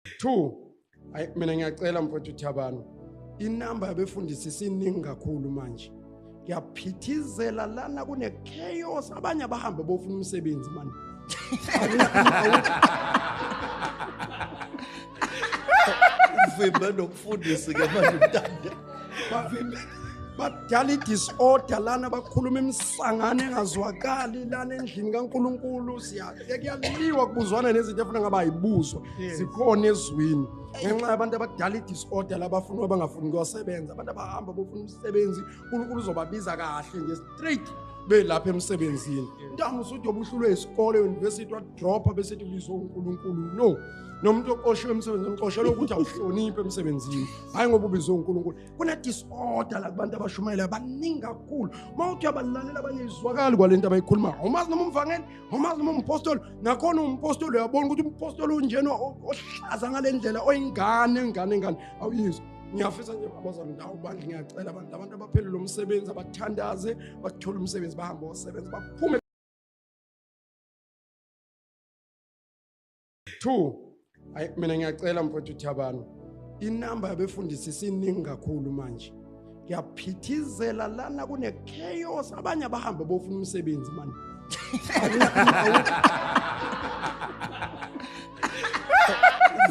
2 Ay mina ngiyacela mfowethu Thabani inamba yabefundisi siningi kakhulu manje ngiyaphithizela lana kune chaos abanye abahambe bofuna umsebenzi manje vimbe nokufundisi ke manje mntanda bavimbe badala i-disorder lana bakhuluma imisangano engazwakali lana endlini kankulunkulu siya kuyaliwa kubuzwana nezinto efuna ngaba ayibuzwa zikhona ezwini ngenxa yabantu abadala i-disorder labafuna uba bangafuni kuyosebenza abantu abahamba bofuna umsebenzi unkulunkulu uzobabiza kahle nje straight belapha emsebenzini ntanga usuthi obuhlulwe isikole university wadropha bese ethi ubizwe unkulunkulu no nomuntu oqoshiwe emsebenzini uqoshelwe ukuthi awuhloniphe emsebenzini hhayi ngoba ubizwe unkulunkulu kunedisorder la kubantu abashumayelayo baningi kakhulu uma uthi uyabalalela abanye izwakali kwale nto abayikhulumayo umazi noma umvangeli ngomazi uma umpostoli nakhona umpostoli uyabona ukuthi umpostoli unjena ohlaza ngale ndlela oyingane ngane ngane awuyizwa ngiyafisa nje abazali ndawo bandla ngiyacela abantu abantu abaphelele umsebenzi abathandaze bathole umsebenzi bahambe osebenzi baphume 2 ayi mina ngiyacela mfowethu Thabani inamba yabefundisi siningi kakhulu manje ngiyaphithizela lana kune chaos abanye abahambe bofuna umsebenzi manje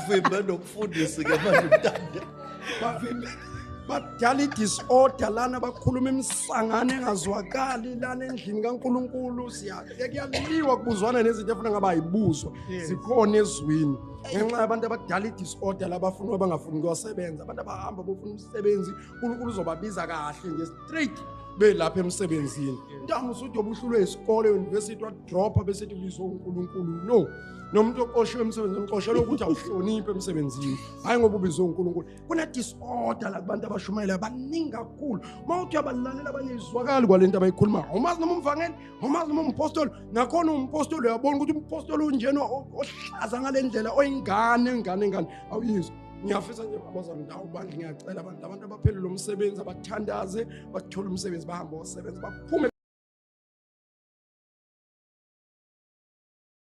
vimba nokufundisi ke manje mntanda bavimba badala i-disorder lana bakhuluma imisangano engazwakali lana endlini kankulunkulu kuyaliwa kubuzwana nezinto efuna ngaba ayibuzwa zikhona ezwini ngenxa yabantu abadala i-disorder labafuna abangafuni kuyosebenza abantu abahamba bofuna umsebenzi unkulunkulu uzobabiza kahle nje straight belapha emsebenzini ntamu usuthi obuhlulwe isikole university wadropha bese tibizwa unkulunkulu no nomuntu oqoshiwe emsebenzini uqoshelwe ukuthi awuhloniphi emsebenzini hhayi ngoba ubizwe unkulunkulu kunedisorder la kubantu abashumayela baningi kakhulu uma uthi uyabalalela abanye izwakali kwale nto abayikhulumayo umazi noma umvangeli umazi noma umpostoli nakhona umpostoli uyabona ukuthi umpostoli unjena ohlaza ngale ndlela oyingane ingane ingane awuyizwa ngiyafisa nje babazana ndawo bandla ngiyacela abantu abantu abaphelele umsebenzi abathandaze bathole umsebenzi bahambe osebenzi baphume